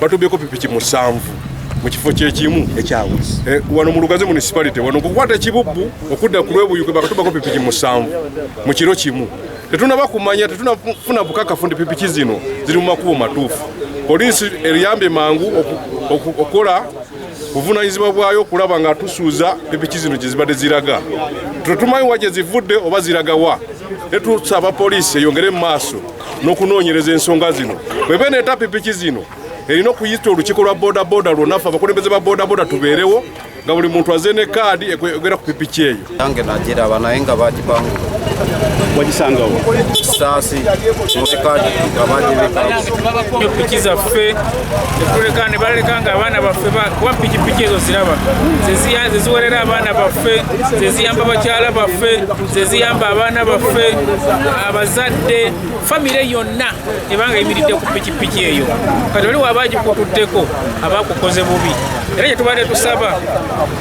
batubyeko pipiki musanvu mu kifo kyekimu ekyawuzi eh, wano mu lugazi municipality wano kukwata ekibubbu okudda ku lwebuyuke bakatubako pipiki musanvu mu kiro kimu tetunaba kumanya tetunafuna bukakafu nti pipiki zino ziri mu makubo matuufu poliisi eriyambye mangu okukola buvunaanyizibwa bwayo okulaba nga tusuuza epiki zino gye zibadde ziraga tetumanyi wa gye zivudde oba ziraga wa ne tusaba poliisi eyongere mu maaso n'okunoonyereza ensonga zino bwebe neeta pipiki zino erina okuyita olukiiko lwa bodaboda lwonna fe abakulembeze ba bodaboda tubeerewo nga buli muntu aze ne kaadi ekwegera ku pipiki eyo Yange nagiraba naye nga bagibanga wagisanga wa saasi mubikaadi nga bagibika piki zaffe etuleka ne baleka nga abaana baffe kuba pikipiki ezo ziraba zeziwerera abaana baffe zeziyamba bakyala baffe zeziyamba abaana baffe abazadde famire yonna ebanga eyimiridde ku pikipiki eyo kati oli waba agikutuddeko abakukoze bubi era kyetubadde tusaba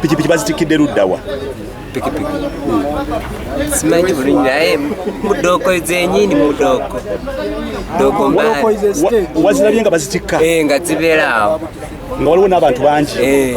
pikipiki bazitikidde luddawa pikipiki simanyi bulungi naye mudooko zenyini mudooko dooko wazirabye nga bazitikka eh, nga zibeera awo nga waliwo n'abantu bangi eh.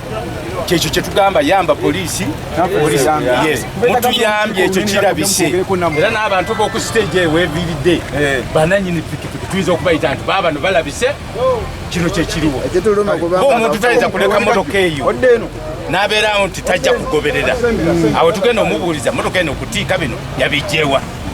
kyekyo kyetugamba yamba polisi mutuyambye ekyo kirabise era n'abantu boku stage eyo weviridde eh. bananyini pikipiki tuyinza okubayita nti babano balabise kino kyekiriwo omuntu tayinza kuleka motoka eyo nabeerawo nti tajja kugoberera awo tugenda omubuuliza motoka eno okutiika bino yabijjewa